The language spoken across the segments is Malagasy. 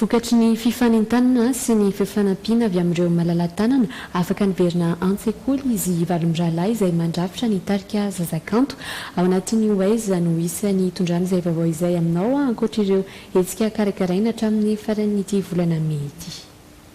Vokatry ny fifanintanana sy ny fifanampiana avy amin'ireo malala-tanana, afaka niverina an-tsekoly izy valo mirahalahy izay mandrafitra ny tarika Zazakanto. Ao anatin'ny Ho Aiza no hisy any hitondrana izay vaovao izay aminao ankoatra ireo hetsika karakaraina hatramin'ny faran'ity volana mey ity.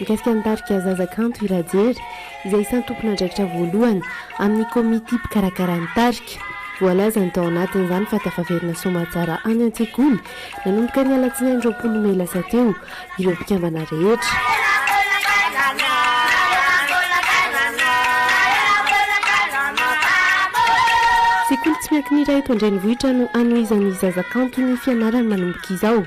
Mikasika ny tarika Zaza Kanto i Rajery, izay isan'ny tompon'andraikitra voalohany amin'ny komity mpikarakara ny tarika. Voalazany tao anatin'izany fa tafaverina soamatsara any an-tsekoly, nanomboka ny alatsinainy roapolo mey lasa teo, ireo mpikambana rehetra. Sekoly tsy miankina iray eto an-drenivohitra no hanohizan'ny Zaza Kanto ny fianarany manomboka izao.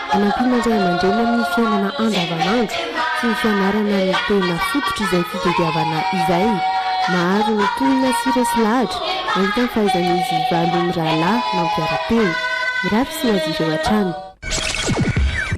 Hanampiana ny ray aman-dreny amin'ny fiainana andavanandro sy ny fianarana ny tena fototr'izay fitadiavana izay. Maro ny tohina sy resy lahatra nahita ny fahaizan'izy valo mirahalahy nampiara-teny. Mirary soa azy ireo hatrany.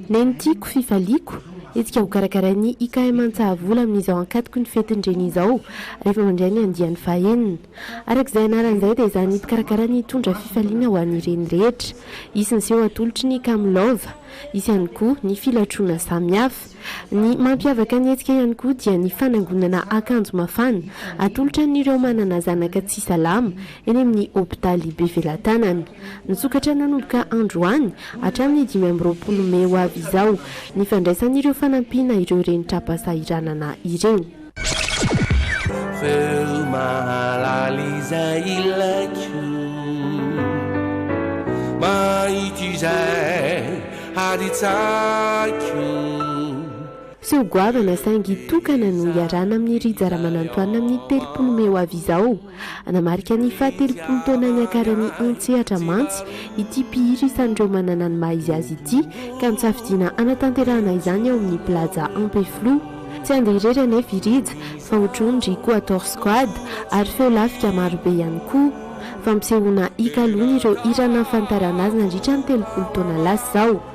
Neny tiako, fifaliako, hetsika hokarakarain'ny IKM Antsahavola amin'izao ankatoky ny fetin'ny Reny izao, rehefa mandray ny andiany fahenina. Araka izay anarany izay dia izany mpikarakara ny hitondra fifaliana ho an'ireny rehetra. Hisy ny seho atolotry ny kamo love. Hisy ihany koa ny filatroana samihafa. Ny mampiavaka ny hetsika ihany koa dia ny fanangonana akanjo mafana atolotra an'ireo manana zanaka tsy salama eny amin'ny hopitaly Bevelatanana. Misokatra nanomboka androany hatramin'ny dimy amby roapolo mey ho avy izao ny fandraisan'ireo fanampiana ireo reny tra-pahasahiranana ireo. Feo mahalala izay ilaiko Mahita izay hary tsaiko Seho goavana saingy tokana no hiarahana amin'i Rija Ramanantoanina amin'ny telopolo mey ho avy izao. Hanamarika ny fahatelopolo taona niakaran'ny an-tsehatra mantsy ity mpihira isan'ireo manana ny maha izy azy ity ka nisafidiana hanatanterahana izany ao amin'ny Plaza Ampefiloha. Tsy handeha irery anefa i Rija fa hotrohiny ry Quator Squad ary feo lafika marobe ihany koa. Fampisehoana hikaloana ireo hira nahafantarana azy nandritra ny telopolo taona lasa izao.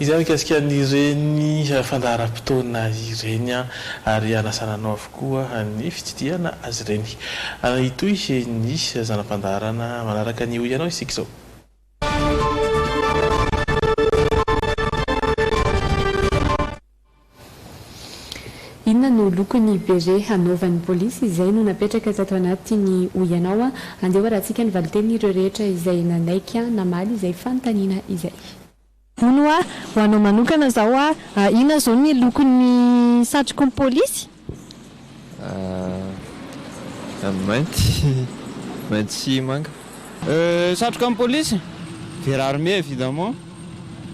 Izay mikasika an'ireny fandaharam-potoana ireny ary hanasana anao avokoa ny fitsidihana azy ireny. Hitohy ny zana-pandaharana manaraka ny Hoy Ianao isika izao. Inona no lokon'ny beret hanaovan'ny polisy? Izay no napetraka tato anatiny hoy ianao an! Andeha ho arahantsika ny valintenin'ireo rehetra izay nanaiky namaly izay fanontaniana izay. Hono hoa, ho anao manokana izao hoa, inona izao ny lokon'ny satroky ny polisy? Amin'ny mainty, mainty sy manga. Satroka an'ny polisy, vert armé évidemment.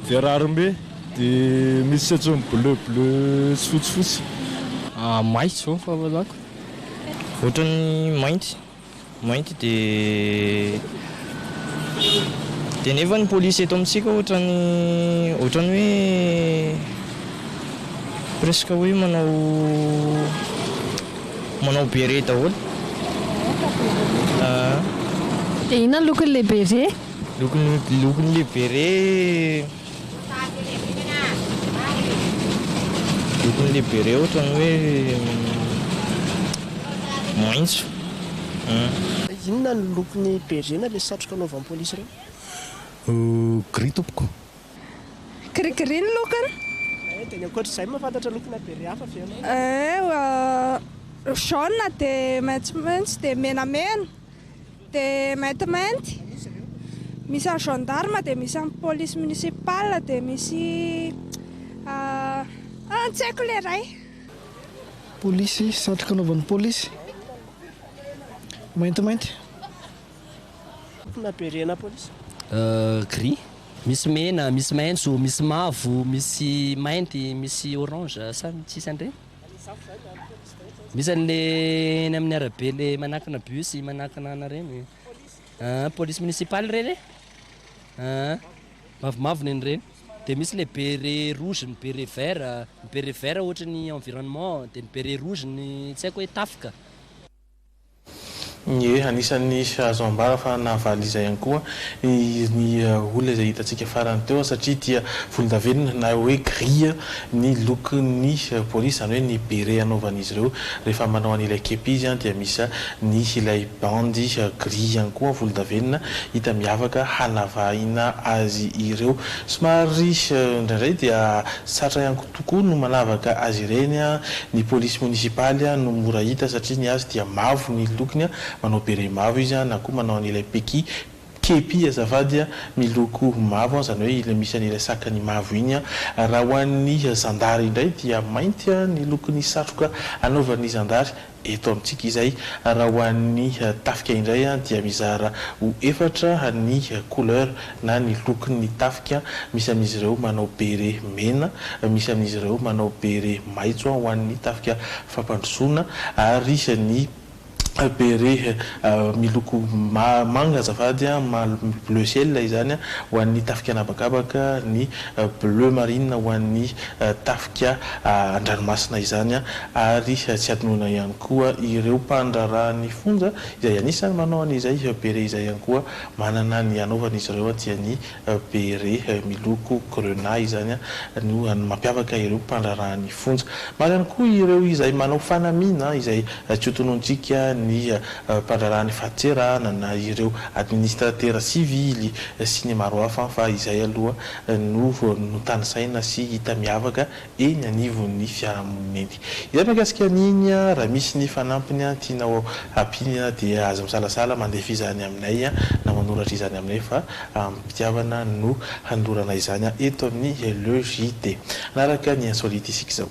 Vert armé, dia misy tsetsony bleu, bleu sy fotsy, fotsy. Maitso, fahafahazako, ohatran'ny mainty. Mainty dia dia nefa ny police eto amintsika ohatrany ohatrany hoe presque hoe manao manao beret daholo ah. Dia inona ny lokon'ilay beret? Lokon'ilay beret. Lokon'ny lebere ohatrany hoe maitso an. Inona no lokon'ny bere na ilay satroka anaovan'ny polisy ireny? Gris tompoko. Gris gris ny lokony. Eeh dia ny ankoatr'izay mahafantatra lokona bere hafa ve ianao? Eeh jaune dia maitsomaitso dia menamena. Dia maintimainty, misy an'ny gendarme, dia misy an'ny police municipale, dia misy ah tsy haiko ilay iray. Polisy, satroka anaovan'ny polisy, maintimainty. Lokona bereana polisy? Gris, misy mena, misy maitso, misy mavo, misy mainty, misy orange, sa ny tsisy an'ireny? Misy anle eny amin'ny arabe le manakina bus manakina ana reny ah police municipale reny e ah mavomavo neny reny de misy le bere rouge ny bere vert ny bere vert ohatry ny environnement de ny bere rouge ny tsy haiko hoe tafika Ie, anisan'ny azo ambara fa nahavaly izay ihany koa ny olona izay hitantsika farany teo satria dia volondavenona na hoe gris ny lokon'ny polisy, izany hoe ny beret anaovan'izy ireo rehefa manao an'ilay kepi izy dia misy ny ilay bandy gris ihany koa volondavenona hita miavaka hanavahina azy ireo. Somary indraindray dia sarotra ihany koa. tokoa no manavaka azy ireny, ny polisy monisipaly no mora hita satria ny azy dia mavo ny lokony, manao beret mavo izy na koa manao an'ilay peki, kepi azafady, miloko mavo, izany hoe ilay misy an'ilay sakany mavo iny, raha ho an'ny zandary indray dia mainty ny lokon'ny satroka anaovan'ny zandary. Eto amintsika izay, raha ho an'ny tafika indray dia mizara ho efatra ny couleur na ny lokon'ny tafika, misy amin'izy ireo manao beret mena, misy amin'izy ireo manao beret maitso ho an'ny tafika fampandrosoana ary ny beret miloko manga azafady, bleu ciel izany, ho an'ny tafika an'habakabaka, ny bleu marine ho an'ny tafika an-dranomasina izany ary tsy hadinoina ihany koa ireo mpandraharaha ny fonja izay anisany manao an'izay beret izay ihany koa manana ny anaovan'izy ireo dia ny beret miloko grenat izany no mampiavaka ireo mpandraharaha ny fonja. Maro ihany koa ireo izay manao fanamiana izay tsy ho tonontsika ny mpandraharaha ny fahatserana na ireo administratera sivily sy ny maro hafa fa izay aloha no vao notanisaina sy hita miavaka eny anivon'ny fiarahamonina eny. Izay mahakasika an'iny, raha misy ny fanampiny tianao ampiany dia aza misalasala mandefa izany aminay na manoratra izany aminay fa amim-pitiavana no hanolorana izany eto amin'ny Le JT. Hanaraka ny insolite isika izao.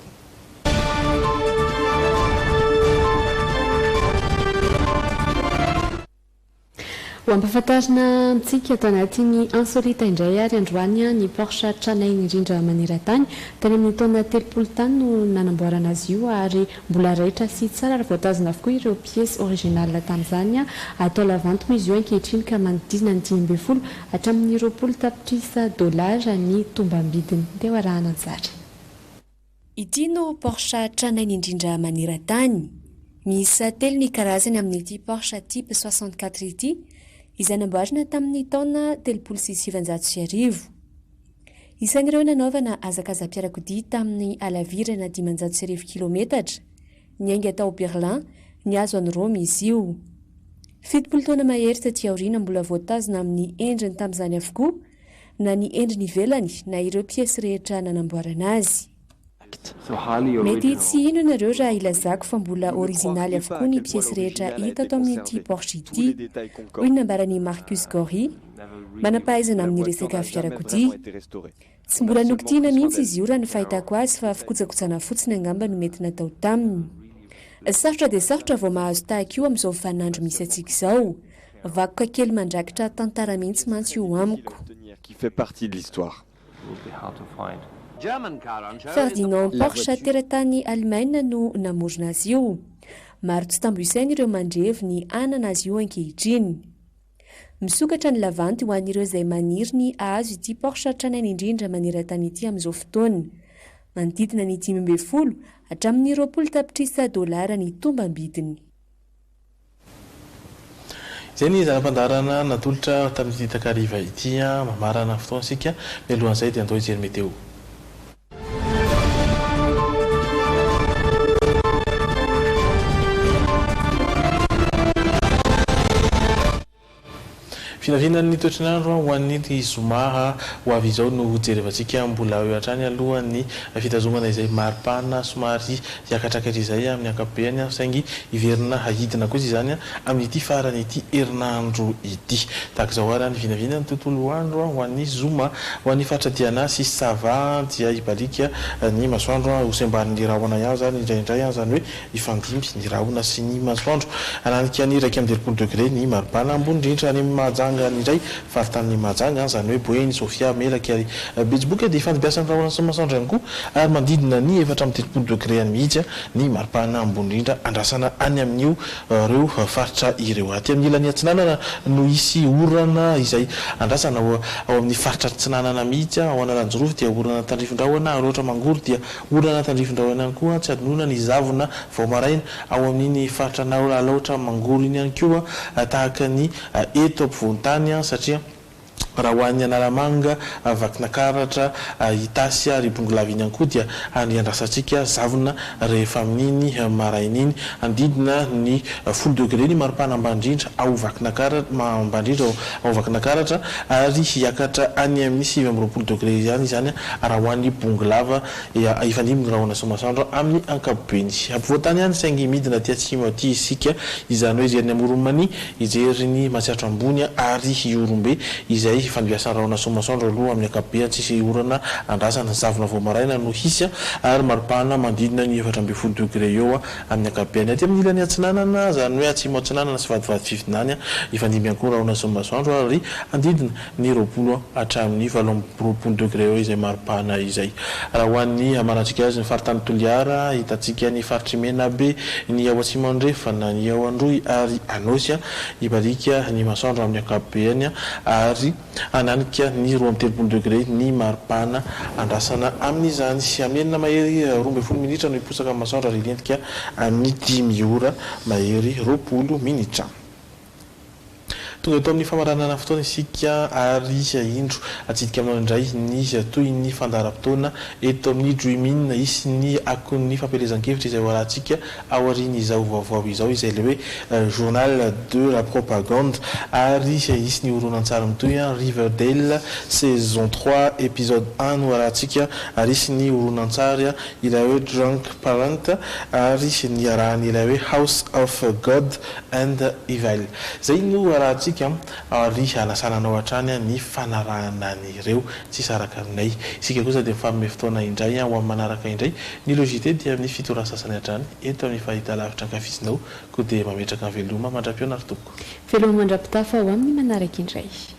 Ho ampahafantarina antsika tanatin'ny Insolita indray ary androany ny Porsche tranainy rindra maneran-tany. Tany amin'ny taona telopolo tany no nanamboarana azy io ary mbola raitra sy tsara ary voatazona avokoa ireo pièces originales tamin'izany. Atao lavanton izy io ankehitriny ka manodidina ny dimy ambin'ny folo hatramin'ny roapolo tapitrisa dollars ny tombam-bidiny. Ndeha ho arahana tsara. Ity no Porsche tranainy indrindra maneran-tany. Miisa telo ny karazany amin'ity Porsche Type soixante-quatre ity, izay namboarina tamin'ny taona telopolo sy sivinjato sy arivo. Isan'ireo nanaovana hazakazam-piarakodia tamin'ny halavirana dimanjato sy arivo kilometatra, niainga tao Berlin, nihazo an'i Roma izy io. Fitopolo taona mahery taty aoriana mbola voatazona amin'ny endriny tamin'izany avokoa na ny endriny ivelany na ireo piesy rehetra nanamboarana azy. Mety tsy hino ianareo raha ilazako fa mbola orizinaly avokoa ny piesy rehetra hita ato amin'ity Porsche ity. Hoy ny nambaran'i Marcus Gorrie, manam-pahaizana amin'ny resaka fiarakodia, Tsy mbola nokitihina mihitsy izy io raha ny fahitako azy fa fikojakojana fotsiny angamba no mety natao taminy. Sarotra dia sarotra vao mahazo tahaka io amin'izao vaninandro misy antsika izao. Vakoka kely mandrakitra tantara mihitsy mantsy io amiko. Ferdinand Porsche teratany Alemaina no namorona azy io. Maro tsy tambo isaina ireo mandrevy ny hanana azy io ankehitriny. Misokatra ny lavanty ho an'ireo izay maniry ny hahazo ity Porsche tranainy indrindra maneran-tany ity amin'izao fotoana. Manodidina ny dimy ambin'ny folo hatramin'ny roapolo tapitrisa dolara ny tombam-bidiny. Izay ny zana-pandaharana natolotra tamin'ity takariva ity mamarana ny fotoantsika. Mialohan'izay dia andao hijery meteo. Vinavinan'ny toetr'nandro ho an'ny zoma ho avy izao no hojerevantsika mbola eo hatrany aloha ny fitazomana izay maripana somary hiakatra kely izay amin'ny ankapobeany saingy hiverina hahidina kosa izany amin'ity faran'ity herinandro ity. Tahaka izao ary ny vinavinan'ny tontolo andro ho an'ny zoma ho an'ny faritra Diana sy Sava dia hibaliaka ny masoandro hosembarin'ny rahona ihany izany indraindray izany hoe Hifandimby ny rahona sy ny masoandro. Hananika ny iraika amby telopolo degre ny maripana ambony indrindra any amin'ny Mahajanga ny iray faritanin'i Mahajanga, izany hoe Boeny, Sofia, Melaky ary Betsiboka, dia hifandimbiasan'ny rahona sy ny masoandro ihany koa ary manodidina ny efatra amby telopolo degre any mihitsy ny maripana ambony indrindra andrasana any amin'io reo faritra ireo. Aty amin'ny ilany atsinanana no hisy orana izay andrasana ao amin'ny faritra atsinanana mihitsy, ao Analanjirofo dia orana tandrifin-drahona ary ohatra Mangoro dia Orana tandrifin-drahona ihany koa tsy hadinoina ny zavona vao maraina ao amin'iny faritra Anao Alaotra Mangoro iny ihany koa tahaka ny eto ampovoan-tany satria raha ho any Analamanga, Vakinakaratra, Itasy ary Bongolava iny ihany koa dia any iandrasantsika zavona rehefa amin'iny maraina iny. Handidina ny folo degré ny maripana ambany indrindra ao Vakinakaratra ary hiakatra any amin'ny sivy amby roapolo degré ihany izany Raha ho an'ny bongo lava dia hifandimby ny rahona sy ny masoandro amin'ny ankapobeny. Ampovoan-tany ihany saingy midina aty atsimo aty isika, izany hoe hijery ny Amoron'i Mania, hijery ny Matsiatra Ambony ary Ihorombe izay hifandimbiasan'ny rahona sy ny masoandro aloha amin'ny ankapobeny. Tsisy orana andrasana, zavona vao maraina no hisy ary maripana manodidina ny efatra ambin'ny folo degre eo amin'ny ankapobeny. Aty amin'ny ilany atsinanana, izany hoe atsimo atsinanana sy vadivady fifinany, hifandimby ihany koa ny rahona sy ny masoandro ary handidina ny roapolo hatramin'ny valo amby roapolo degre eo izay mari-pahana izay. Raha ho an'ny hamarantsika azy, ny faritany Toliara, ahitantsika ny faritr'i Menabe, ny ao Atsimo Andrefana, ny ao Androy ary Anôsy, hibarika ny masoandro amin'ny ankapobeny ary hananika ny roa amby telopolo degre ny mari-pahana andrasana amin'izany. Hamenona mahery roa ambin'ny folo minitra no hiposaka ny masoandro ary hilentika amin'ny dimy ora mahery roapolo minitra. Tonga eto amin'ny famaranana fotoana isika ary indro atsidika aminao indray ny tohin'ny fandaharam-potoana eto amin'ny Dream In. Hisy ny akon'ny fampielezan-kevitra izay hoarahantsika aorian'izao vaovao izao izay ilay hoe Journal de la propagande ary hisy ny horonantsary mitohy Riverdale saison trois episode un no hoarahantsika ary hisy ny horonantsary ilay hoe Drunk Parent ary niarahan'ilay hoe House of God And evil. Zay no arahantsika ary hanasana anao hatrany ny fanarahana an'ireo. Tsy saraka aminay. Isika kosa dia mifanome fotoana indray ho amin'ny manaraka indray. Ny Logite dia amin'ny fito ora sasany hatrany eto amin'ny fahitalavitra ankafizinao. Koa dia mametraka ny veloma mandra-pihaona ry tompoko. Veloma mandra-pitafa ho amin'ny manaraka indray.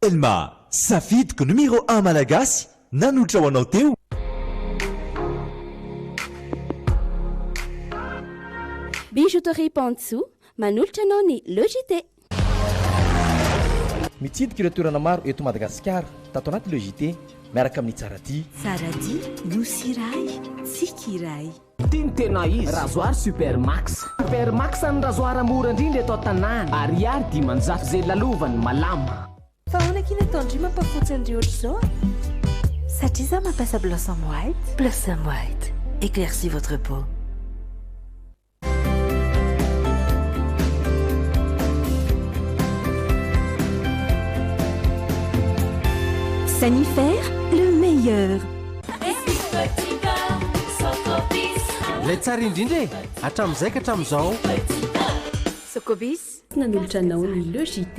Telma, safidiko numero un malagasy nanotra ho anao teo. Bijouterie Pantsou, manolotra anao ny Le JT. Mitsidika ireo toerana maro eto Madagasikara tato anaty Le JT miaraka amin'ny Tsaradia. Tsaradia, Nosy iray, tsiky iray. Ty ny tena izy. Razoary super max. Super max an'i Razoara mora indrindra eto an-tanàna. Ariary dimanjato izay lalovany malama. Fa ahoana k'y nataon-dry mampafotsy an-dry ohatr'izao a? Satria za mampiasa Blossom White. Blossom White, éclaircis votre peau. Sanifer, le meilleur. Ilay tsara indrindra e! Hatramin'izay ka hatramin'izao. Sokobis, nanolotra anao ny Le JT.